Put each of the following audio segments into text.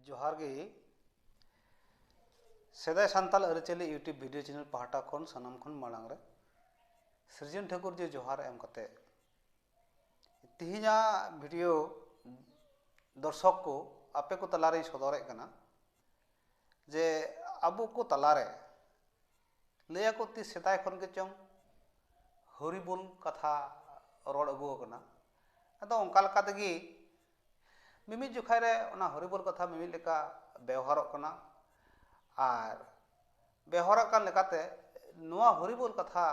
ᱡᱚᱦᱟᱨ ᱜᱮ ᱥᱮᱫᱟᱭ ᱥᱟᱱᱛᱟᱞ ᱟᱹᱨᱤᱪᱟᱹᱞᱤ ᱤᱭᱩᱴᱤᱭᱩᱵᱽ ᱵᱷᱤᱰᱤᱭᱳ ᱪᱮᱱᱮᱞ ᱯᱟᱦᱴᱟ ᱠᱷᱚᱱ ᱥᱟᱱᱟᱢ ᱠᱷᱚᱱ ᱢᱟᱲᱟᱝ ᱨᱮ ᱥᱨᱤᱡᱚᱱ ᱴᱷᱟᱹᱠᱩᱨ ᱡᱮ ᱡᱚᱦᱟᱨ ᱮᱢ ᱠᱟᱛᱮ ᱛᱮᱦᱮᱧᱟᱜ ᱵᱷᱤᱰᱤᱭᱳ ᱫᱚᱨᱥᱚᱠ ᱠᱚ ᱟᱯᱮ ᱠᱚ ᱛᱟᱞᱟᱨᱮᱧ ᱥᱚᱫᱚᱨᱮᱫ ᱠᱟᱱᱟ ᱡᱮ ᱟᱵᱚ ᱠᱚ ᱛᱟᱞᱟᱨᱮ ᱞᱟᱹᱭ ᱟᱠᱚ ᱛᱤᱥ ᱥᱮᱫᱟᱭ ᱠᱷᱚᱱ ᱜᱮᱪᱚᱝ ᱦᱚᱨᱤ ᱵᱚᱞ ᱠᱟᱛᱷᱟ ᱨᱚᱲ ᱟᱹᱜᱩ ᱟᱠᱟᱱᱟ ᱟᱫᱚ ᱚᱱᱠᱟ ᱞᱮᱠᱟ ᱛᱮᱜᱮ ᱢᱤᱢᱤᱫ ᱡᱚᱠᱷᱟᱡ ᱨᱮ ᱚᱱᱟ ᱦᱚᱨᱤ ᱵᱚᱞ ᱠᱟᱛᱷᱟ ᱢᱤᱢᱤᱫ ᱞᱮᱠᱟ ᱵᱮᱣᱦᱟᱨᱚᱜ ᱠᱟᱱᱟ ᱟᱨ ᱵᱮᱣᱦᱟᱨᱚᱜ ᱠᱟᱱ ᱞᱮᱠᱟᱛᱮ ᱱᱚᱣᱟ ᱦᱚᱨᱤ ᱵᱚᱞ ᱠᱟᱛᱷᱟ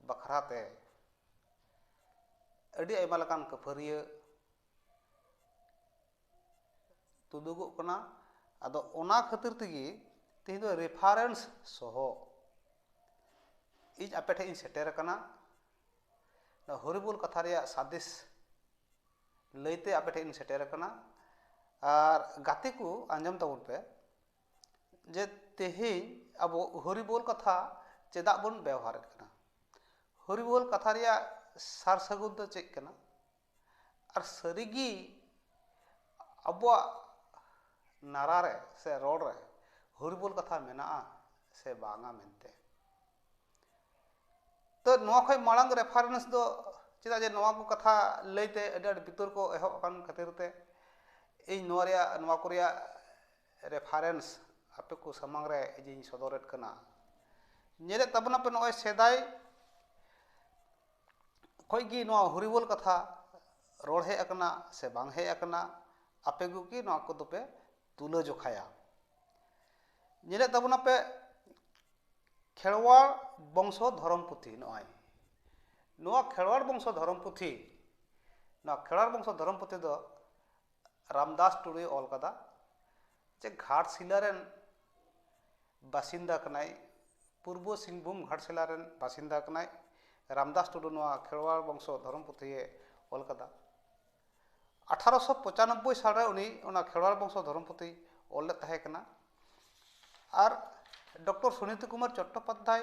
ᱵᱟᱠᱷᱨᱟ ᱛᱮ ᱟᱹᱰᱤ ᱟᱭᱢᱟ ᱞᱮᱠᱟᱱ ᱠᱟᱹᱯᱷᱟᱹᱨᱤᱭᱟᱹ ᱛᱩᱫᱩᱜᱚᱜ ᱠᱟᱱᱟ ᱟᱫᱚ ᱚᱱᱟ ᱠᱷᱟᱹᱛᱤᱨ ᱛᱮᱜᱮ ᱛᱮᱦᱮᱧ ᱫᱚ ᱨᱮᱯᱷᱟᱨᱮᱱᱥ ᱥᱚᱦᱚ ᱤᱧ ᱟᱯᱮ ᱴᱷᱮᱱ ᱤᱧ ᱥᱮᱴᱮᱨ ᱟᱠᱟᱱᱟ ᱱᱚᱣᱟ ᱦᱚᱨᱤᱵᱚᱞ ᱠᱟᱛᱷᱟ ᱨᱮᱭᱟᱜ ᱥᱟᱸᱫᱮᱥ ᱞᱟᱹᱭᱛᱮ ᱟᱯᱮ ᱴᱷᱮᱱ ᱤᱧ ᱥᱮᱴᱮᱨ ᱟᱠᱟᱱᱟ ᱟᱨ ᱜᱟᱛᱮ ᱠᱚ ᱟᱸᱡᱚᱢ ᱛᱟᱵᱚᱱ ᱯᱮ ᱡᱮ ᱛᱮᱦᱮᱧ ᱟᱵᱚ ᱦᱚᱨᱤᱵᱚᱞ ᱠᱟᱛᱷᱟ ᱪᱮᱫᱟᱜ ᱵᱚᱱ ᱵᱮᱣᱦᱟᱨᱮᱫ ᱠᱟᱱᱟ ᱦᱚᱨᱤᱵᱚᱞ ᱠᱟᱛᱷᱟ ᱨᱮᱭᱟᱜ ᱥᱟᱨ ᱥᱟᱹᱜᱩᱱ ᱫᱚ ᱪᱮᱫ ᱠᱟᱱᱟ ᱟᱨ ᱥᱟᱹᱨᱤᱜᱮ ᱟᱵᱚᱣᱟᱜ ᱱᱟᱨᱟ ᱨᱮ ᱥᱮ ᱨᱚᱲ ᱨᱮ ᱦᱚᱨᱤ ᱵᱚᱞ ᱠᱟᱛᱷᱟ ᱢᱮᱱᱟᱜᱼᱟ ᱥᱮ ᱵᱟᱝᱟ ᱢᱮᱱᱛᱮ ᱛᱚ ᱱᱚᱣᱟ ᱠᱷᱚᱱ ᱢᱟᱲᱟᱝ ᱨᱮᱯᱷᱟᱨᱮᱱᱥ ᱫᱚ ᱪᱮᱫᱟᱜ ᱡᱮ ᱱᱚᱣᱟ ᱠᱚ ᱠᱟᱛᱷᱟ ᱞᱟᱹᱭᱛᱮ ᱟᱹᱰᱤ ᱟᱸᱴ ᱵᱤᱛᱚᱨᱠᱚ ᱮᱦᱚᱵ ᱟᱠᱟᱱ ᱠᱷᱟᱹᱛᱤᱨ ᱛᱮ ᱤᱧ ᱱᱚᱣᱟ ᱨᱮᱭᱟᱜ ᱱᱚᱣᱟ ᱠᱚ ᱨᱮᱭᱟᱜ ᱨᱮᱯᱷᱟᱨᱮᱱᱥ ᱟᱯᱮ ᱠᱚ ᱥᱟᱢᱟᱝ ᱨᱮ ᱤᱧᱤᱧ ᱥᱚᱫᱚᱨᱮᱫ ᱠᱟᱱᱟ ᱧᱮᱞᱮᱫ ᱛᱟᱵᱚᱱᱟᱯᱮ ᱱᱚᱜᱼᱚᱭ ᱥᱮᱫᱟᱭ ᱠᱷᱚᱱ ᱜᱮ ᱱᱚᱣᱟ ᱦᱚᱨᱤᱵᱚᱞ ᱠᱟᱛᱷᱟ ᱨᱚᱲ ᱦᱮᱡ ᱟᱠᱟᱱᱟ ᱥᱮ ᱵᱟᱝ ᱦᱮᱡ ᱟᱠᱟᱱᱟ ᱟᱯᱮ ᱠᱚᱜᱮ ᱱᱚᱣᱟ ᱠᱚᱫᱚ ᱯᱮ ᱛᱩᱞᱟᱹ ᱡᱚᱠᱷᱟᱭᱟ ᱧᱮᱞᱮᱫ ᱛᱟᱵᱚᱱᱟ ᱯᱮ ᱠᱷᱮᱨᱣᱟᱲ ᱵᱚᱝᱥᱚ ᱫᱷᱚᱨᱚᱢ ᱯᱩᱛᱷᱤ ᱱᱚᱜᱼᱚᱭ ᱱᱚᱣᱟ ᱠᱷᱮᱨᱣᱟᱲ ᱵᱚᱝᱥᱚ ᱫᱷᱚᱨᱚᱢ ᱯᱩᱛᱷᱤ ᱱᱚᱣᱟ ᱠᱷᱮᱨᱣᱟᱲ ᱵᱚᱝᱥᱚ ᱫᱷᱚᱨᱚᱢ ᱯᱩᱛᱷᱤ ᱫᱚ ᱨᱟᱢᱫᱟᱥ ᱴᱩᱰᱩᱭ ᱚᱞ ᱟᱠᱟᱫᱟ ᱡᱮ ᱜᱷᱟᱴᱥᱤᱞᱟ ᱨᱮᱱ ᱵᱟᱥᱤᱱᱫᱟ ᱠᱟᱱᱟᱭ ᱯᱩᱨᱵᱚ ᱥᱤᱝᱵᱷᱩᱢ ᱜᱷᱟᱴᱥᱤᱞᱟ ᱨᱮᱱ ᱵᱟᱥᱤᱱᱫᱟ ᱠᱟᱱᱟᱭ ᱨᱟᱢᱫᱟᱥ ᱴᱩᱰᱩ ᱱᱚᱶᱟ ᱠᱷᱮᱨᱣᱟᱲ ᱵᱚᱝᱥᱚ ᱫᱷᱚᱨᱚᱢ ᱯᱩᱛᱷᱤ ᱮ ᱚᱞ ᱟᱠᱟᱫᱟ ᱟᱴᱷᱟᱨᱳᱥᱚ ᱯᱚᱸᱪᱟᱱᱚᱵᱽᱵᱚᱭ ᱥᱟᱞ ᱨᱮ ᱩᱱᱤ ᱚᱱᱟ ᱠᱷᱮᱨᱣᱟᱲ ᱵᱚᱝᱥᱚ ᱫᱷᱚᱨᱚᱢ ᱯᱩᱛᱷᱤ ᱚᱞ ᱞᱮᱫ ᱛᱟᱦᱮᱸ ᱠᱟᱱᱟ ᱟᱨ ᱰᱚᱠᱴᱚᱨ ᱥᱩᱱᱤᱛᱤ ᱠᱩᱢᱟᱨ ᱪᱚᱴᱴᱳᱯᱟᱫᱽᱫᱷᱟᱭ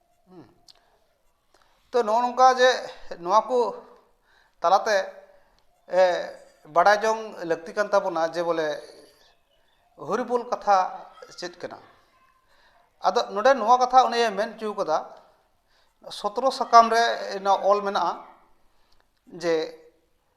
ᱛᱚ ᱱᱚᱜᱼᱚ ᱱᱚᱝᱠᱟ ᱡᱮ ᱱᱚᱣᱟ ᱠᱚ ᱛᱟᱞᱟᱛᱮ ᱵᱟᱰᱟᱭ ᱡᱚᱝ ᱞᱟᱹᱠᱛᱤ ᱠᱟᱱ ᱛᱟᱵᱚᱱᱟ ᱡᱮ ᱵᱚᱞᱮ ᱦᱚᱨᱤᱵᱚᱞ ᱠᱟᱛᱷᱟ ᱪᱮᱫ ᱠᱟᱱᱟ ᱟᱫᱚ ᱱᱚᱰᱮ ᱱᱚᱣᱟ ᱠᱟᱛᱷᱟ ᱩᱱᱤᱭᱮ ᱢᱮᱱ ᱦᱚᱪᱚ ᱠᱟᱫᱟ ᱥᱚᱛᱨᱚ ᱥᱟᱠᱟᱢ ᱨᱮ ᱚᱞ ᱢᱮᱱᱟᱜᱼᱟ ᱡᱮ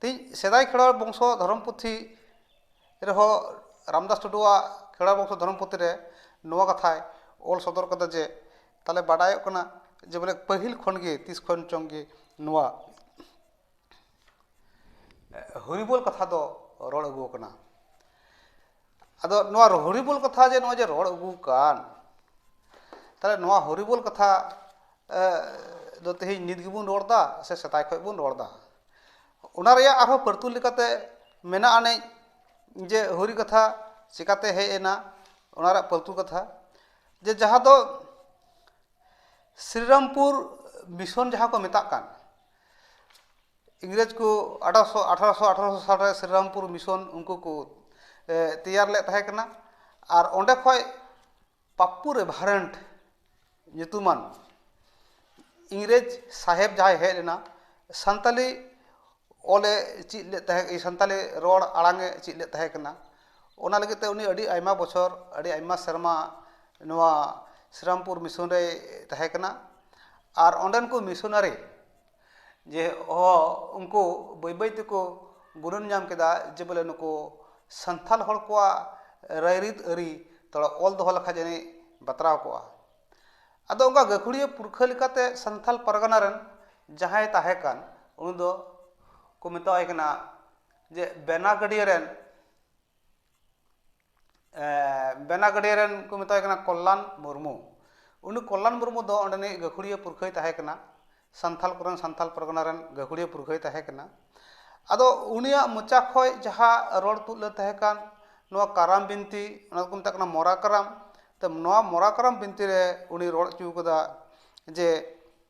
ᱛᱮᱦᱮᱧ ᱥᱮᱫᱟᱭ ᱠᱷᱮᱨᱣᱟᱲ ᱵᱚᱝᱥᱚ ᱫᱷᱚᱨᱚᱢ ᱯᱩᱛᱷᱤ ᱨᱮᱦᱚᱸ ᱨᱟᱢᱫᱟᱥ ᱴᱩᱰᱩᱣᱟᱜ ᱠᱷᱮᱨᱣᱟᱲ ᱵᱚᱝᱥᱚ ᱫᱷᱚᱨᱚᱢ ᱯᱩᱛᱷᱤ ᱨᱮ ᱱᱚᱣᱟ ᱠᱟᱛᱷᱟᱭ ᱚᱞ ᱥᱚᱫᱚᱨ ᱠᱟᱫᱟ ᱡᱮ ᱛᱟᱦᱚᱞᱮ ᱵᱟᱰᱟᱭᱚᱜ ᱠᱟᱱᱟ ᱡᱮ ᱵᱚᱞᱮ ᱯᱟᱹᱦᱤᱞ ᱠᱷᱚᱱ ᱜᱮ ᱛᱤᱥ ᱠᱷᱚᱱ ᱪᱚᱝ ᱜᱮ ᱱᱚᱣᱟ ᱦᱚᱨᱤᱵᱚᱞ ᱠᱟᱛᱷᱟ ᱫᱚ ᱨᱚᱲ ᱟᱹᱜᱩᱣᱟᱠᱟᱱᱟ ᱟᱫᱚ ᱱᱚᱣᱟ ᱦᱚᱨᱤᱵᱚᱞ ᱠᱟᱛᱷᱟ ᱡᱮ ᱱᱚᱜᱼᱚᱭ ᱡᱮ ᱨᱚᱲ ᱟᱹᱜᱩ ᱟᱠᱟᱱ ᱛᱟᱦᱚᱞᱮ ᱱᱚᱣᱟ ᱦᱚᱨᱤᱵᱚᱞ ᱠᱟᱛᱷᱟ ᱫᱚ ᱛᱮᱦᱮᱧ ᱱᱤᱛ ᱜᱮᱵᱚᱱ ᱨᱚᱲ ᱮᱫᱟ ᱥᱮ ᱥᱮᱫᱟᱭ ᱠᱷᱚᱱ ᱵᱚᱱ ᱨᱚᱲ ᱮᱫᱟ ᱚᱱᱟ ᱨᱮᱭᱟᱜ ᱟᱨᱦᱚᱸ ᱯᱟᱹᱨᱛᱩᱞ ᱞᱮᱠᱟᱛᱮ ᱢᱮᱱᱟᱜ ᱟᱹᱱᱤᱡ ᱡᱮ ᱦᱚᱨᱤ ᱠᱟᱛᱷᱟ ᱪᱤᱠᱟᱹᱛᱮ ᱦᱮᱡ ᱮᱱᱟ ᱚᱱᱟ ᱨᱮᱭᱟᱜ ᱯᱟᱹᱨᱛᱩᱞ ᱠᱟᱛᱷᱟ ᱡᱮ ᱡᱟᱦᱟᱸ ᱫᱚ ᱥᱨᱤᱨᱟᱢᱯᱩᱨ ᱢᱤᱥᱚᱱ ᱡᱟᱦᱟᱸ ᱠᱚ ᱢᱮᱛᱟᱜ ᱠᱟᱱ ᱤᱝᱨᱮᱡᱽ ᱠᱚ ᱟᱴᱷᱟᱨᱚᱥᱚ ᱟᱴᱷᱟᱨᱚᱥᱚ ᱟᱴᱷᱟᱨᱚᱥᱚ ᱥᱟᱞ ᱨᱮ ᱥᱨᱤᱨᱟᱢᱯᱩᱨ ᱢᱤᱥᱚᱱ ᱩᱱᱠᱩ ᱠᱚ ᱛᱮᱭᱟᱨ ᱞᱮᱫ ᱛᱟᱦᱮᱸ ᱠᱟᱱᱟ ᱟᱨ ᱚᱸᱰᱮ ᱠᱷᱚᱡ ᱯᱟᱯᱯᱩ ᱨᱮᱵᱷᱟᱨᱮᱱᱰ ᱧᱩᱛᱩᱢᱟᱱ ᱤᱝᱨᱮᱡᱽ ᱥᱟᱦᱮᱵᱽ ᱡᱟᱦᱟᱸᱭ ᱦᱮᱡ ᱞᱮᱱᱟ ᱥᱟᱱᱛᱟᱞᱤ ᱚᱞ ᱮ ᱪᱮᱫ ᱞᱮᱫ ᱛᱟᱦᱮᱸ ᱠᱟᱱᱟ ᱥᱟᱱᱛᱟᱞᱤ ᱨᱚᱲ ᱟᱲᱟᱝ ᱮ ᱪᱮᱫ ᱞᱮᱫ ᱛᱟᱦᱮᱸ ᱠᱟᱱᱟ ᱚᱱᱟ ᱞᱟᱹᱜᱤᱫ ᱛᱮ ᱩᱱᱤ ᱟᱹᱰᱤ ᱟᱭᱢᱟ ᱵᱚᱪᱷᱚᱨ ᱟᱹᱰᱤ ᱟᱭᱢᱟ ᱥᱮᱨᱢᱟ ᱱᱚᱣᱟ ᱥᱨᱤᱨᱟᱢᱯᱩᱨ ᱢᱤᱥᱚᱱ ᱨᱮᱭ ᱛᱟᱦᱮᱸ ᱠᱟᱱᱟ ᱟᱨ ᱚᱸᱰᱮᱱ ᱠᱚ ᱢᱤᱥᱚᱱᱟᱨᱤ ᱡᱮ ᱦᱚᱸ ᱩᱱᱠᱩ ᱵᱟᱹᱭ ᱵᱟᱹᱭ ᱛᱮᱠᱚ ᱜᱩᱱᱟᱹᱱ ᱧᱟᱢ ᱠᱮᱫᱟ ᱡᱮ ᱵᱚᱞᱮ ᱱᱩᱠᱩ ᱥᱟᱱᱛᱟᱲ ᱦᱚᱲ ᱠᱚᱣᱟᱜ ᱨᱟᱭᱨᱤᱛ ᱟᱹᱨᱤ ᱛᱷᱚᱲᱟ ᱚᱞ ᱫᱚᱦᱚ ᱞᱮᱠᱷᱟᱱ ᱡᱟᱹᱱᱤᱡ ᱵᱟᱛᱨᱟᱣ ᱠᱚᱜᱼᱟ ᱟᱫᱚ ᱚᱱᱠᱟ ᱜᱟᱹᱠᱷᱩᱲᱤᱭᱟᱹ ᱯᱩᱨᱠᱷᱟᱹ ᱞᱮᱠᱟᱛᱮ ᱥᱟᱱᱛᱟᱲ ᱯᱟᱨᱜᱟᱱᱟ ᱨᱮᱱ ᱡᱟᱦᱟᱸᱭ ᱛᱟᱦᱮᱸ ᱠᱟᱱ ᱩᱱᱤ ᱫᱚ ᱠᱚ ᱢᱮᱛᱟᱣᱟᱭ ᱠᱟᱱᱟ ᱡᱮ ᱵᱮᱱᱟᱜᱟᱹᱰᱤᱭᱟᱹ ᱨᱮᱱ ᱵᱮᱱᱟᱜᱟᱹᱰᱤᱭᱟᱹ ᱨᱮᱱ ᱠᱚ ᱢᱮᱛᱟᱭ ᱠᱟᱱᱟ ᱠᱚᱞᱞᱟᱱ ᱢᱩᱨᱢᱩ ᱩᱱᱤ ᱠᱚᱞᱞᱟᱱ ᱢᱩᱨᱢᱩ ᱫᱚ ᱚᱸᱰᱮᱱᱤᱡ ᱜᱟᱹᱠᱷᱩᱲᱤᱭᱟᱹ ᱯᱩᱨᱠᱷᱟᱹᱭ ᱛᱟᱦᱮᱸ ᱠᱟᱱᱟ ᱥᱟᱱᱛᱷᱟᱞ ᱠᱚᱨᱮᱱ ᱥᱟᱱᱛᱟᱞ ᱯᱟᱨᱜᱟᱱᱟ ᱨᱮᱱ ᱜᱟᱹᱠᱷᱩᱲᱤᱭᱟᱹ ᱯᱩᱨᱠᱷᱟᱹᱭ ᱛᱟᱦᱮᱸ ᱠᱟᱱᱟ ᱟᱫᱚ ᱩᱱᱤᱭᱟᱜ ᱢᱚᱪᱟ ᱠᱷᱚᱱ ᱡᱟᱦᱟᱸ ᱨᱚᱲ ᱛᱩᱫ ᱞᱮᱱ ᱛᱟᱦᱮᱸ ᱠᱟᱱ ᱱᱚᱣᱟ ᱠᱟᱨᱟᱢ ᱵᱤᱱᱛᱤ ᱚᱱᱟ ᱫᱚᱠᱚ ᱢᱮᱛᱟᱜ ᱠᱟᱱᱟ ᱢᱚᱨᱟ ᱠᱟᱨᱟᱢ ᱛᱚ ᱱᱚᱣᱟ ᱢᱚᱨᱟ ᱠᱟᱨᱟᱢ ᱵᱤᱱᱛᱤ ᱨᱮ ᱩᱱᱤᱭ ᱨᱚᱲ ᱦᱚᱪᱚ ᱠᱟᱫᱟ ᱡᱮ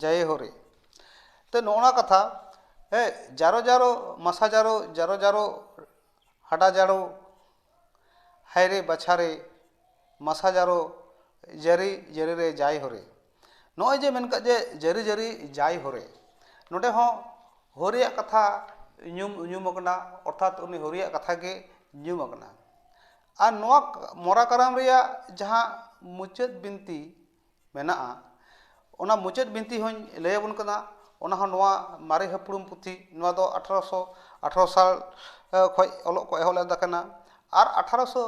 ᱡᱟᱭ ᱦᱳ ᱨᱮ ᱛᱚ ᱱᱚᱜᱼᱚ ᱱᱚᱣᱟ ᱠᱟᱛᱷᱟ ᱦᱮᱸ ᱡᱟᱨᱚ ᱡᱟᱨᱚ ᱢᱟᱥᱟ ᱡᱟᱨᱚ ᱡᱟᱨᱚ ᱡᱟᱨᱚ ᱦᱟᱰᱟ ᱡᱟᱨᱚ ᱦᱟᱭ ᱨᱮ ᱵᱟᱪᱷᱟ ᱨᱮ ᱢᱟᱥᱟ ᱡᱟᱨᱚ ᱡᱟᱹᱨᱤ ᱡᱟᱹᱨᱤ ᱨᱮ ᱡᱟᱭ ᱦᱳ ᱨᱮ ᱱᱚᱜᱼᱚᱭ ᱡᱮ ᱢᱮᱱ ᱠᱟᱜ ᱡᱮ ᱡᱟᱹᱨᱤ ᱡᱟᱹᱨᱤ ᱡᱟᱭ ᱦᱳ ᱨᱮ ᱱᱚᱰᱮ ᱦᱚᱸ ᱦᱳ ᱨᱮᱭᱟᱜ ᱠᱟᱛᱷᱟ ᱧᱩᱢ ᱧᱩᱢ ᱟᱠᱟᱱᱟ ᱚᱨᱛᱷᱟᱛ ᱩᱱᱤ ᱦᱳ ᱨᱮᱭᱟᱜ ᱠᱟᱛᱷᱟ ᱜᱮ ᱧᱩᱢ ᱟᱠᱟᱱᱟ ᱟᱨ ᱱᱚᱣᱟ ᱢᱚᱨᱟ ᱠᱟᱨᱟᱢ ᱨᱮᱭᱟᱜ ᱡᱟᱦᱟᱸ ᱢᱩᱪᱟᱹᱫ ᱵᱤᱱᱛᱤ ᱢᱮᱱᱟᱜᱼᱟ ᱚᱱᱟ ᱢᱩᱪᱟᱹᱫ ᱵᱤᱱᱛᱤ ᱦᱚᱧ ᱞᱟᱹᱭ ᱟᱵᱚᱱ ᱠᱟᱱᱟ ᱚᱱᱟ ᱦᱚᱸ ᱱᱚᱣᱟ ᱢᱟᱨᱮ ᱦᱟᱯᱲᱟᱢ ᱯᱩᱛᱷᱤ ᱱᱚᱣᱟ ᱫᱚ ᱟᱴᱷᱨᱚᱥᱚ ᱟᱴᱷᱨᱚ ᱥᱟᱞ ᱠᱷᱚᱡ ᱚᱞᱚᱜ ᱠᱚ ᱮᱦᱚᱵ ᱞᱮᱫ ᱛᱟᱦᱮᱱᱟ ᱟᱨ ᱟᱴᱷᱨᱚᱥᱚ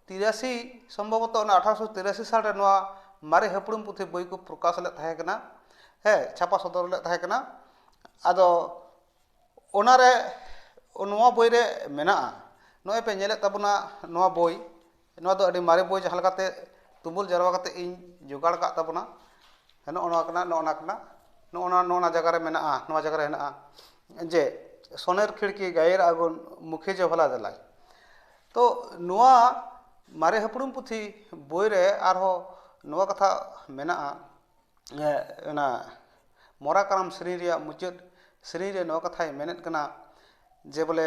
ᱛᱤᱨᱟᱥᱤ ᱥᱚᱢᱵᱷᱚᱵᱚᱛᱚ ᱚᱱᱟ ᱟᱴᱷᱨᱚᱥᱚ ᱛᱤᱨᱟᱥᱤ ᱥᱟᱞ ᱨᱮ ᱱᱚᱣᱟ ᱢᱟᱨᱮ ᱦᱟᱯᱲᱟᱢ ᱯᱩᱛᱷᱤ ᱵᱳᱭ ᱠᱚ ᱯᱨᱚᱠᱟᱥ ᱞᱮᱫ ᱛᱟᱦᱮᱸ ᱠᱟᱱᱟ ᱦᱮᱸ ᱪᱷᱟᱯᱟ ᱥᱚᱫᱚᱨ ᱞᱮᱫ ᱛᱟᱦᱮᱸ ᱠᱟᱱᱟ ᱟᱫᱚ ᱚᱱᱟᱨᱮ ᱱᱚᱣᱟ ᱵᱳᱭ ᱨᱮ ᱢᱮᱱᱟᱜᱼᱟ ᱱᱚᱜᱼᱚᱭ ᱯᱮ ᱧᱮᱞᱮᱫ ᱛᱟᱵᱚᱱᱟ ᱱᱚᱣᱟ ᱵᱳᱭ ᱱᱚᱣᱟ ᱫᱚ ᱟᱹᱰᱤ ᱢᱟᱨᱮ ᱵᱳᱭ ᱡᱟᱦᱟᱸ ᱞᱮᱠᱟᱛᱮ ᱛᱩᱢᱟᱹᱞ ᱡᱟᱨᱣᱟ ᱠᱟᱛᱮᱫ ᱤᱧ ᱡᱚᱜᱟᱲ ᱟᱠᱟᱫ ᱛᱟᱵᱚᱱᱟ ᱱᱚᱜᱼᱚ ᱱᱚᱣᱟ ᱠᱟᱱᱟ ᱱᱚᱜᱼᱚ ᱱᱟ ᱠᱟᱱᱟ ᱱᱚᱜᱼᱚ ᱱᱟ ᱱᱚᱜᱼᱚ ᱱᱟ ᱡᱟᱭᱜᱟ ᱨᱮ ᱢᱮᱱᱟᱜᱼᱟ ᱱᱚᱣᱟ ᱡᱟᱭᱜᱟ ᱨᱮ ᱦᱮᱱᱟᱜᱼᱟ ᱡᱮ ᱥᱚᱱᱮᱨ ᱠᱷᱤᱲᱠᱤ ᱜᱟᱭᱮᱨ ᱟᱜᱩᱱ ᱢᱩᱠᱷᱮ ᱡᱮ ᱵᱷᱟᱞᱟ ᱫᱟᱞᱟᱭ ᱛᱚ ᱱᱚᱣᱟ ᱢᱟᱨᱮ ᱦᱟᱯᱲᱟᱢ ᱯᱩᱛᱷᱤ ᱵᱳᱭ ᱨᱮ ᱟᱨᱦᱚᱸ ᱱᱚᱣᱟ ᱠᱟᱛᱷᱟ ᱢᱮᱱᱟᱜᱼᱟ ᱚᱱᱟ ᱢᱚᱨᱟ ᱠᱟᱨᱟᱢ ᱥᱮᱨᱮᱧ ᱨᱮᱭᱟᱜ ᱢᱩᱪᱟᱹᱫ ᱥᱮᱨᱮᱧ ᱨᱮ ᱱᱚᱣᱟ ᱠᱟᱛᱷᱟᱭ ᱢᱮᱱᱮᱫ ᱠᱟᱱᱟ ᱡᱮ ᱵᱚᱞᱮ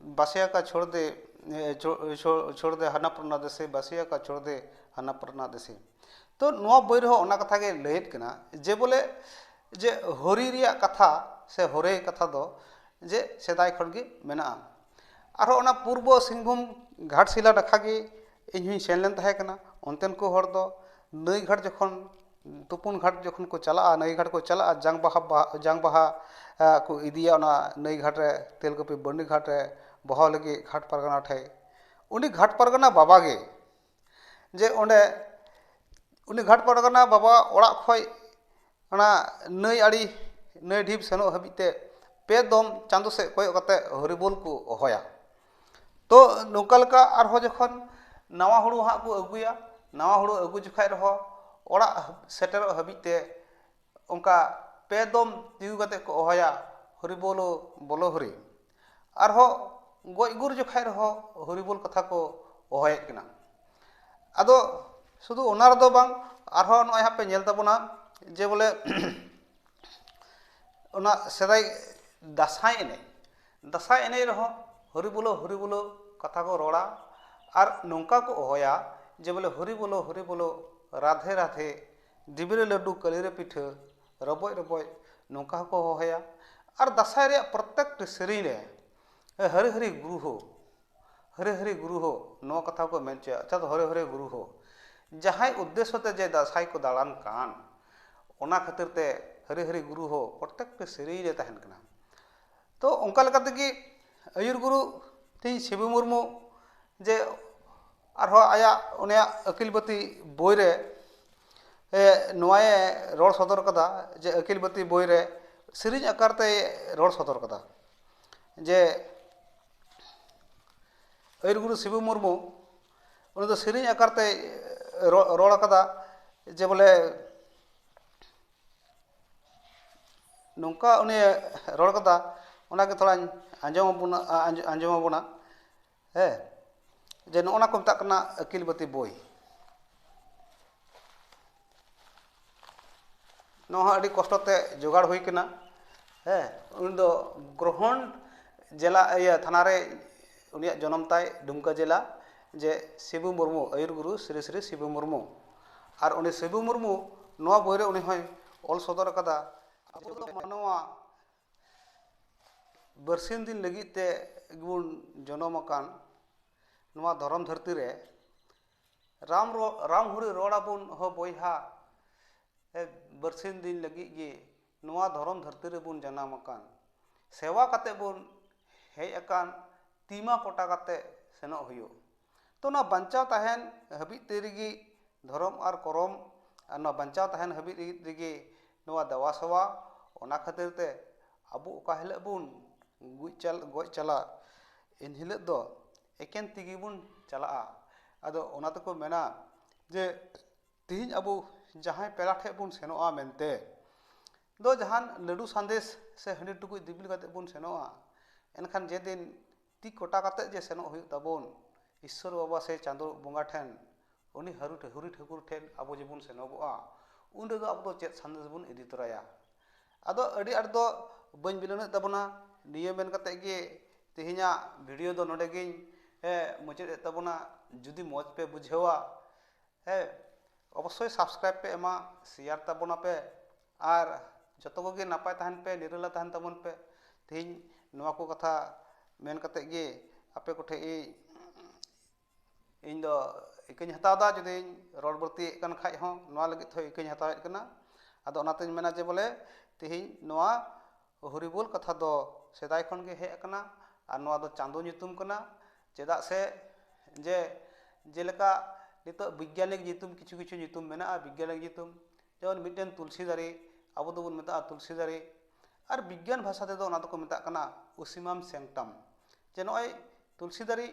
ᱵᱟᱥᱭᱟ ᱠᱟ ᱪᱷᱳᱲ ᱫᱮ ᱪᱷᱳᱲ ᱫᱮ ᱦᱟᱱᱟ ᱯᱨᱟᱱᱟ ᱫᱮᱥᱮ ᱵᱟᱥᱭᱟ ᱠᱟ ᱪᱷᱳᱲ ᱫᱮ ᱦᱟᱱᱟ ᱯᱨᱟᱱᱟ ᱫᱮᱥᱮ ᱛᱚ ᱱᱚᱣᱟ ᱵᱳᱭ ᱨᱮᱦᱚᱸ ᱚᱱᱟ ᱠᱟᱛᱷᱟ ᱜᱮ ᱞᱟᱹᱭᱮᱫ ᱠᱟᱱᱟ ᱡᱮ ᱵᱚᱞᱮ ᱡᱮ ᱦᱳᱨᱤ ᱨᱮᱭᱟᱜ ᱠᱟᱛᱷᱟ ᱥᱮ ᱦᱚᱨᱮ ᱠᱟᱛᱷᱟ ᱫᱚ ᱡᱮ ᱥᱮᱫᱟᱭ ᱠᱷᱚᱱ ᱜᱮ ᱢᱮᱱᱟᱜᱼᱟ ᱟᱨᱚ ᱚᱱᱟ ᱯᱩᱨᱵᱚ ᱥᱤᱝᱵᱷᱩᱢ ᱜᱷᱟᱴᱥᱤᱞᱟ ᱱᱟᱠᱷᱟ ᱜᱮ ᱤᱧ ᱦᱚᱸᱧ ᱥᱮᱱ ᱞᱮᱱ ᱛᱟᱦᱮᱸ ᱠᱟᱱᱟ ᱚᱱᱛᱮᱱ ᱠᱚ ᱦᱚᱲ ᱫᱚ ᱱᱟᱹᱭ ᱜᱷᱟᱴ ᱡᱚᱠᱷᱚᱱ ᱛᱩᱯᱩᱱ ᱜᱷᱟᱴ ᱡᱚᱠᱷᱚᱱ ᱠᱚ ᱪᱟᱞᱟᱜᱼᱟ ᱱᱟᱹᱭ ᱜᱷᱟᱴ ᱠᱚ ᱪᱟᱞᱟᱜᱼᱟ ᱡᱟᱝ ᱵᱟᱦᱟ ᱡᱟᱝ ᱵᱟᱦᱟ ᱠᱚ ᱤᱫᱤᱭᱟ ᱚᱱᱟ ᱱᱟᱹᱭ ᱜᱷᱟᱴ ᱨᱮ ᱛᱮᱞᱠᱩᱯᱤ ᱵᱟᱹᱨᱱᱤ ᱜᱷᱟᱴ ᱨᱮ ᱵᱚᱦᱟᱣ ᱞᱟᱹᱜᱤᱫ ᱜᱷᱟᱴ ᱯᱟᱨᱜᱟᱱᱟ ᱴᱷᱮᱡ ᱩᱱᱤ ᱜᱷᱟᱴ ᱯᱟᱨᱜᱟᱱᱟ ᱵᱟᱵᱟ ᱜᱮ ᱡᱮ ᱚᱸᱰᱮ ᱩᱱᱤ ᱜᱷᱟᱴ ᱯᱟᱨᱜᱟᱱᱟ ᱵᱟᱵᱟ ᱚᱲᱟᱜ ᱠᱷᱚᱡ ᱚᱱᱟ ᱱᱟᱹᱭ ᱟᱲᱮ ᱱᱟᱹᱭ ᱰᱷᱤᱯ ᱥᱮᱱᱚᱜ ᱦᱟᱹᱵᱤᱡ ᱛᱮ ᱯᱮ ᱫᱚᱢ ᱪᱟᱸᱫᱚ ᱥᱮᱡ ᱠᱚᱭᱚᱜ ᱠᱟᱛᱮ ᱦᱚᱨᱤᱵᱳᱞ ᱠᱚ ᱦᱚᱦᱚᱭᱟ ᱛᱚ ᱱᱚᱝᱠᱟ ᱞᱮᱠᱟ ᱟᱨᱦᱚᱸ ᱡᱚᱠᱷᱚᱱ ᱱᱟᱣᱟ ᱦᱩᱲᱩ ᱦᱟᱸᱜ ᱠᱚ ᱟᱹᱜᱩᱭᱟ ᱱᱟᱣᱟ ᱦᱩᱲᱩ ᱟᱹᱜᱩ ᱡᱚᱠᱷᱚᱡ ᱨᱮᱦᱚᱸ ᱚᱲᱟᱜ ᱥᱮᱴᱮᱨᱚᱜ ᱦᱟᱹᱵᱤᱡ ᱛᱮ ᱚᱱᱠᱟ ᱯᱮ ᱫᱚᱢ ᱛᱤᱸᱜᱩ ᱠᱟᱛᱮᱜ ᱠᱚ ᱦᱚᱦᱚᱭᱟ ᱦᱚᱨᱤ ᱵᱳᱞᱳ ᱵᱳᱞᱳ ᱦᱚᱨᱤ ᱟᱨᱦᱚᱸ ᱜᱚᱡ ᱜᱩᱨ ᱡᱚᱠᱷᱚᱡ ᱨᱮᱦᱚᱸ ᱦᱚᱨᱤ ᱵᱳᱞ ᱠᱟᱛᱷᱟ ᱠᱚ ᱦᱚᱦᱚᱭᱮᱜ ᱠᱟᱱᱟ ᱟᱫᱚ ᱥᱩᱫᱷᱩ ᱚᱱᱟ ᱨᱮᱫᱚ ᱵᱟᱝ ᱟᱨᱦᱚᱸ ᱱᱚᱜᱼᱚᱭ ᱦᱟᱸᱜ ᱯᱮ ᱧᱮᱞ ᱛᱟᱵᱚᱱᱟ ᱡᱮ ᱵᱚᱞᱮ ᱚᱱᱟ ᱥᱮᱫᱟᱭ ᱫᱟᱸᱥᱟᱭ ᱮᱱᱮᱡ ᱫᱟᱸᱥᱟᱭ ᱮᱱᱮᱡ ᱨᱮᱦᱚᱸ ᱦᱚᱨᱤ ᱵᱚᱞᱚ ᱦᱚᱨᱤ ᱵᱚᱞᱚ ᱠᱟᱛᱷᱟ ᱠᱚ ᱨᱚᱲᱟ ᱟᱨ ᱱᱚᱝᱠᱟ ᱠᱚ ᱦᱚᱦᱚᱭᱟ ᱡᱮ ᱵᱚᱞᱮ ᱦᱚᱨᱤ ᱵᱚᱞᱚ ᱦᱚᱨᱤ ᱵᱚᱞᱚ ᱨᱟᱫᱷᱮ ᱨᱟᱫᱷᱮ ᱫᱷᱤᱵᱤ ᱨᱮ ᱞᱟᱹᱰᱩ ᱠᱟᱹᱞᱤ ᱨᱮ ᱯᱤᱴᱷᱟᱹ ᱨᱚᱵᱚᱡ ᱨᱚᱵᱚᱡ ᱱᱚᱝᱠᱟ ᱦᱚᱸᱠᱚ ᱦᱚᱦᱚᱭᱟ ᱟᱨ ᱫᱟᱸᱥᱟᱭ ᱨᱮᱭᱟᱜ ᱯᱨᱚᱛᱮᱠᱴᱤ ᱥᱮᱨᱮᱧ ᱨᱮ ᱦᱟᱹᱨᱤ ᱦᱟᱹᱨᱤ ᱜᱩᱨᱩ ᱦᱳ ᱦᱟᱹᱨᱤ ᱦᱟᱹᱨᱤ ᱜᱩᱨᱩ ᱦᱳ ᱱᱚᱣᱟ ᱠᱟᱛᱷᱟ ᱦᱚᱸᱠᱚ ᱢᱮᱱ ᱦᱚᱪᱚᱭᱟ ᱟᱪᱪᱷᱟ ᱫᱚ ᱦᱟᱹᱨᱤ ᱦᱟᱹᱨᱤ ᱜᱩᱨᱩ ᱦᱳ ᱡᱟᱦᱟᱸᱭ ᱩᱫᱽᱫᱮᱥᱥᱚ ᱛᱮ ᱡᱮ ᱫᱟᱸᱥᱟᱭ ᱠᱚ ᱫᱟᱬᱟᱱ ᱠᱟᱱ ᱚᱱᱟ ᱠᱷᱟᱹᱛᱤᱨ ᱛᱮ ᱦᱟᱹᱨᱤ ᱦᱟᱹᱨᱤ ᱜᱩᱨᱩ ᱦᱳ ᱯᱨᱚᱛᱮᱠᱴᱤ ᱥᱮᱨᱮᱧ ᱨᱮ ᱛᱟᱦᱮᱱ ᱠᱟᱱᱟ ᱛᱚ ᱚᱱᱠᱟ ᱞᱮᱠᱟ ᱛᱮᱜᱮ ᱟᱹᱭᱩᱨ ᱜᱩᱨᱩ ᱛᱤᱧ ᱥᱤᱵᱩ ᱢᱩᱨᱢᱩ ᱡᱮ ᱟᱨᱦᱚᱸ ᱟᱭᱟᱜ ᱩᱱᱤᱭᱟᱜ ᱟᱹᱠᱤᱞ ᱵᱟᱹᱛᱤ ᱵᱳᱭ ᱨᱮ ᱱᱚᱣᱟᱭᱮ ᱨᱚᱲ ᱥᱚᱫᱚᱨ ᱠᱟᱫᱟ ᱡᱮ ᱟᱹᱠᱤᱞ ᱵᱟᱹᱛᱤ ᱵᱳᱭ ᱨᱮ ᱥᱮᱨᱮᱧ ᱟᱠᱟᱨ ᱛᱮᱭ ᱨᱚᱲ ᱥᱚᱫᱚᱨ ᱠᱟᱫᱟ ᱡᱮ ᱟᱹᱭᱩᱨ ᱜᱩᱨᱩ ᱥᱤᱵᱩ ᱢᱩᱨᱢᱩ ᱩᱱᱤ ᱫᱚ ᱥᱮᱨᱮᱧ ᱟᱠᱟᱨ ᱛᱮᱭ ᱨᱚᱲ ᱠᱟᱫᱟ ᱡᱮ ᱵᱚᱞᱮ ᱱᱚᱝᱠᱟ ᱩᱱᱤᱭ ᱨᱚᱲ ᱠᱟᱫᱟ ᱚᱱᱟᱜᱮ ᱛᱷᱚᱲᱟᱧ ᱟᱸᱡᱚᱢ ᱟᱵᱚᱱᱟ ᱟᱸᱡᱚᱢ ᱟᱵᱚᱱᱟ ᱦᱮᱸ ᱡᱮ ᱱᱚᱜᱼᱚ ᱱᱟ ᱠᱚ ᱢᱮᱛᱟᱜ ᱠᱟᱱᱟ ᱟᱹᱠᱤᱞ ᱵᱟᱹᱛᱤ ᱵᱳᱭ ᱱᱚᱣᱟ ᱦᱚᱸ ᱟᱹᱰᱤ ᱠᱚᱥᱴᱚ ᱛᱮ ᱡᱳᱜᱟᱲ ᱦᱩᱭ ᱠᱟᱱᱟ ᱦᱮᱸ ᱩᱱᱤ ᱫᱚ ᱜᱨᱚᱦᱚᱱ ᱡᱮᱞᱟ ᱤᱭᱟᱹ ᱛᱷᱟᱱᱟ ᱨᱮ ᱩᱱᱤᱭᱟᱜ ᱡᱚᱱᱚᱢ ᱛᱟᱭ ᱫᱩᱢᱠᱟᱹ ᱡᱮᱞᱟ ᱡᱮ ᱥᱤᱵᱩ ᱢᱩᱨᱢᱩ ᱟᱹᱭᱩᱨ ᱜᱩᱨᱩ ᱥᱨᱤ ᱥᱨᱤ ᱥᱤᱵᱩ ᱢᱩᱨᱢᱩ ᱟᱨ ᱩᱱᱤ ᱥᱤᱵᱩ ᱢᱩᱨᱢᱩ ᱱᱚᱣᱟ ᱵᱳᱭ ᱨᱮ ᱩᱱᱤ ᱦᱚᱸᱭ ᱚᱞ ᱥᱚᱫᱚᱨ ᱟᱠᱟᱫᱟ ᱟᱵᱚ ᱫᱚ ᱢᱟᱱᱣᱟ ᱵᱟᱹᱨᱥᱤᱧ ᱫᱤᱱ ᱞᱟᱹᱜᱤᱫ ᱛᱮ ᱵᱚᱱ ᱡᱚᱱᱚᱢ ᱟᱠᱟᱱ ᱱᱚᱣᱟ ᱫᱷᱚᱨᱚᱢ ᱫᱷᱟᱹᱨᱛᱤ ᱨᱮ ᱨᱟᱢ ᱨᱟᱢ ᱦᱚᱨᱤ ᱨᱚᱲ ᱟᱵᱚᱱ ᱦᱳ ᱵᱚᱭᱦᱟ ᱵᱟᱹᱨᱥᱤᱧ ᱫᱤᱱ ᱞᱟᱹᱜᱤᱫ ᱜᱮ ᱱᱚᱣᱟ ᱫᱷᱚᱨᱚᱢ ᱫᱷᱟᱹᱨᱛᱤ ᱨᱮᱵᱚᱱ ᱡᱟᱱᱟᱢ ᱟᱠᱟᱱ ᱥᱮᱵᱟ ᱠᱟᱛᱮᱫ ᱵᱚᱱ ᱦᱮᱡ ᱟᱠᱟᱱ ᱛᱤ ᱢᱟ ᱠᱚᱴᱟ ᱠᱟᱛᱮᱫ ᱥᱮᱱᱚᱜ ᱦᱩᱭᱩᱜ ᱛᱚ ᱚᱱᱟ ᱵᱟᱧᱪᱟᱣ ᱛᱟᱦᱮᱱ ᱦᱟᱹᱵᱤᱡ ᱛᱮ ᱨᱮᱜᱮ ᱫᱷᱚᱨᱚᱢ ᱟᱨ ᱠᱚᱨᱚᱢ ᱟᱨ ᱱᱚᱣᱟ ᱵᱟᱧᱪᱟᱣ ᱛᱟᱦᱮᱱ ᱦᱟᱹᱵᱤᱡ ᱨᱮᱜᱮ ᱱᱚᱣᱟ ᱫᱮᱵᱟ ᱥᱮᱵᱟ ᱚᱱᱟ ᱠᱷᱟᱹᱛᱤᱨ ᱛᱮ ᱟᱵᱚ ᱚᱠᱟ ᱦᱤᱞᱳᱜ ᱵᱚᱱ ᱜᱩᱡ ᱪᱟᱞ ᱜᱚᱡ ᱪᱟᱞᱟᱜ ᱮᱱ ᱦᱤᱞᱳᱜ ᱫᱚ ᱮᱠᱮᱱ ᱛᱤ ᱜᱮᱵᱚᱱ ᱪᱟᱞᱟᱜᱼᱟ ᱟᱫᱚ ᱚᱱᱟ ᱛᱮᱠᱚ ᱢᱮᱱᱟ ᱡᱮ ᱛᱮᱦᱮᱧ ᱟᱵᱚ ᱡᱟᱦᱟᱸᱭ ᱯᱮᱲᱟ ᱴᱷᱮᱱ ᱵᱚᱱ ᱥᱮᱱᱚᱜᱼᱟ ᱢᱮᱱᱛᱮ ᱫᱚ ᱡᱟᱦᱟᱱ ᱞᱟᱹᱰᱩ ᱥᱟᱸᱫᱮᱥ ᱥᱮ ᱦᱟᱺᱰᱤ ᱴᱩᱠᱩᱡ ᱫᱤᱯᱤᱞ ᱠᱟᱛᱮᱫ ᱵᱚᱱ ᱥᱮᱱᱚᱜᱼᱟ ᱮᱱᱠᱷᱟᱱ ᱡᱮᱫᱤᱱ ᱛᱤ ᱠᱚᱴᱟ ᱠᱟᱛᱮᱫ ᱡᱮ ᱥᱮᱱᱚᱜ ᱦᱩᱭᱩᱜ ᱛᱟᱵᱚᱱ ᱤᱥᱥᱚᱨ ᱵᱟᱵᱟ ᱥᱮ ᱪᱟᱸᱫᱳ ᱵᱚᱸᱜᱟ ᱴᱷᱮᱱ ᱩᱱᱤ ᱦᱟᱹᱨᱩ ᱦᱟᱹᱨᱤ ᱴᱷᱟᱹᱠᱩᱨ ᱴᱷᱮᱱ ᱟᱵᱚ ᱡᱮᱵᱚᱱ ᱥᱮᱱᱚᱜᱚᱜᱼᱟ ᱩᱱ ᱨᱮᱫᱚ ᱟᱵᱚ ᱫᱚ ᱪᱮᱫ ᱥᱟᱸᱫᱮᱥ ᱵᱚᱱ ᱤᱫᱤ ᱛᱚᱨᱟᱭᱟ ᱟᱫᱚ ᱟᱹᱰᱤ ᱟᱸᱴ ᱫᱚ ᱵᱟᱹᱧ ᱵᱤᱞᱚᱢᱮᱫ ᱛᱟᱵᱚᱱᱟ ᱱᱤᱭᱟᱹ ᱢᱮᱱ ᱠᱟᱛᱮᱫ ᱜᱮ ᱛᱮᱦᱮᱧᱟᱜ ᱵᱷᱤᱰᱤᱭᱳ ᱫᱚ ᱱᱚᱰᱮ ᱜᱤᱧ ᱢᱩᱪᱟᱹᱫ ᱮᱫ ᱛᱟᱵᱚᱱᱟ ᱡᱩᱫᱤ ᱢᱚᱡᱽ ᱯᱮ ᱵᱩᱡᱷᱟᱹᱣᱟ ᱦᱮᱸ ᱚᱵᱚᱥᱥᱳᱭ ᱥᱟᱵᱥᱠᱨᱟᱭᱤᱵᱽ ᱯᱮ ᱮᱢᱟ ᱥᱮᱭᱟᱨ ᱛᱟᱵᱚᱱᱟ ᱯᱮ ᱟᱨ ᱡᱚᱛᱚ ᱠᱚᱜᱮ ᱱᱟᱯᱟᱭ ᱛᱟᱦᱮᱱ ᱯᱮ ᱱᱤᱨᱟᱹᱞᱟ ᱛᱟᱦᱮᱱ ᱛᱟᱵᱚᱱ ᱯᱮ ᱛᱮᱦᱮᱧ ᱱᱚᱣᱟ ᱠᱚ ᱠᱟᱛᱷᱟ ᱢᱮᱱ ᱠᱟᱛᱮ ᱜᱮ ᱟᱯᱮ ᱠᱚᱴᱷᱮᱡ ᱤᱧ ᱤᱧ ᱫᱚ ᱤᱠᱟᱹᱧ ᱦᱟᱛᱟᱣ ᱫᱟ ᱡᱩᱫᱤ ᱨᱚᱲ ᱵᱟᱹᱲᱛᱤᱭᱮᱜ ᱠᱟᱱ ᱠᱷᱟᱡ ᱦᱚᱸ ᱱᱚᱣᱟ ᱞᱟᱹᱜᱤᱫ ᱛᱮᱦᱚᱸ ᱤᱠᱟᱹᱧ ᱦᱟᱛᱟᱣᱮᱜ ᱠᱟᱱᱟ ᱟᱫᱚ ᱚᱱᱟᱛᱮᱧ ᱢᱮᱱᱟ ᱡᱮ ᱵᱚᱞᱮ ᱛᱮᱦᱮᱧ ᱱᱚᱣᱟ ᱦᱚᱨᱤᱵᱚᱞ ᱠᱟᱛᱷᱟ ᱫᱚ ᱥᱮᱫᱟᱭ ᱠᱷᱚᱱ ᱜᱮ ᱦᱮᱡ ᱟᱠᱟᱱᱟ ᱟᱨ ᱱᱚᱣᱟ ᱫᱚ ᱪᱟᱸᱫᱚ ᱧᱩᱛᱩᱢ ᱠᱟᱱᱟ ᱪᱮᱫᱟᱜ ᱥᱮ ᱡᱮ ᱡᱮᱞᱮᱠᱟ ᱱᱤᱛᱚᱜ ᱵᱤᱜᱽᱜᱟᱱᱤᱠ ᱧᱩᱛᱩᱢ ᱠᱤᱪᱷᱩ ᱠᱤᱪᱷᱩ ᱧᱩᱛᱩᱢ ᱢᱮᱱᱟᱜᱼᱟ ᱵᱤᱜᱽᱜᱟᱱᱤᱠ ᱧᱩᱛᱩᱢ ᱡᱮᱢᱚᱱ ᱢᱤᱫᱴᱮᱱ ᱛᱩᱞᱥᱤ ᱫᱟᱨᱮ ᱟᱵᱚ ᱫᱚᱵᱚᱱ ᱢᱮᱛᱟᱜᱼᱟ ᱛᱩᱞᱥᱤ ᱫᱟᱨᱮ ᱟᱨ ᱵᱤᱜᱽᱜᱟᱱ ᱵᱷᱟᱥᱟ ᱛᱮᱫᱚ ᱚᱱᱟ ᱫᱚᱠᱚ ᱢᱮᱛᱟᱜ ᱠᱟᱱᱟ ᱚᱥᱤᱢᱟᱢ ᱥᱮᱝᱴᱟᱢ ᱡᱮ ᱱᱚᱜᱼᱚᱭ ᱛᱩᱞᱥᱤ ᱫᱟᱨᱮ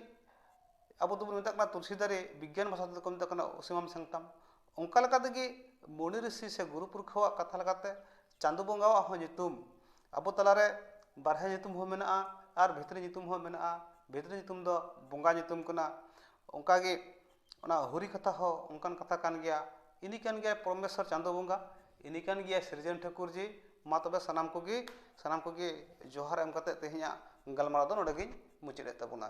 ᱟᱵᱚ ᱫᱚᱵᱚᱱ ᱢᱮᱛᱟᱜ ᱠᱟᱱᱟ ᱛᱩᱞᱥᱤ ᱫᱟᱨᱮ ᱵᱤᱜᱽᱜᱟᱱ ᱵᱷᱟᱥᱟ ᱛᱮᱫᱚ ᱠᱚ ᱢᱮᱛᱟᱜ ᱠᱟᱱᱟ ᱚᱥᱤᱢᱟᱢ ᱥᱮᱝᱴᱟᱢ ᱚᱱᱠᱟ ᱞᱮᱠᱟ ᱛᱮᱜᱮ ᱢᱩᱱᱤ ᱨᱤᱥᱤ ᱥᱮ ᱜᱩᱨᱩ ᱯᱩᱨᱠᱷᱟᱹᱣᱟᱜ ᱠᱟᱛᱷᱟ ᱞᱮᱠᱟᱛᱮ ᱪᱟᱸᱫᱚ ᱵᱚᱸᱜᱟᱣᱟᱜ ᱦᱚᱸ ᱧᱩᱛᱩᱢ ᱟᱵᱚ ᱛᱟᱞᱟᱨᱮ ᱵᱟᱦᱨᱮ ᱧᱩᱛᱩᱢ ᱦᱚᱸ ᱢᱮᱱᱟᱜᱼᱟ ᱟᱨ ᱵᱷᱤᱛᱨᱤ ᱧᱩᱛᱩᱢ ᱦᱚᱸ ᱢᱮᱱᱟᱜᱼᱟ ᱵᱷᱤᱛᱨᱤ ᱧᱩᱛᱩᱢ ᱫᱚ ᱵᱚᱸᱜᱟ ᱧᱩᱛᱩᱢ ᱠᱟᱱᱟ ᱚᱱᱠᱟᱜᱮ ᱚᱱᱟ ᱦᱚᱨᱤ ᱠᱟᱛᱷᱟ ᱦᱚᱸ ᱚᱱᱠᱟᱱ ᱠᱟᱛᱷᱟ ᱠᱟᱱ ᱜᱮᱭᱟ ᱤᱱᱤ ᱠᱟᱱ ᱜᱮᱭᱟᱭ ᱯᱚᱨᱢᱮᱥᱥᱚᱨ ᱪᱟᱸᱫᱚ ᱵᱚᱸᱜᱟ ᱤᱱᱤ ᱠᱟᱱ ᱜᱮᱭᱟᱭ ᱥᱤᱨᱡᱚᱱ ᱴᱷᱟᱹᱠᱩᱨ ᱡᱤ ᱢᱟ ᱛᱚᱵᱮ ᱥᱟᱱᱟᱢ ᱠᱚᱜᱮ ᱥᱟᱱᱟᱢ ᱠᱚᱜᱮ ᱡᱚᱦᱟᱨ ᱮᱢ ᱠᱟᱛᱮᱫ ᱛᱮᱦᱮᱧᱟᱜ ᱜᱟᱞᱢᱟᱨᱟᱣ ᱫᱚ ᱱᱚᱰᱮ ᱜᱤᱧ ᱢᱩᱪᱟᱹᱫ ᱮᱫ ᱛᱟᱵᱚᱱᱟ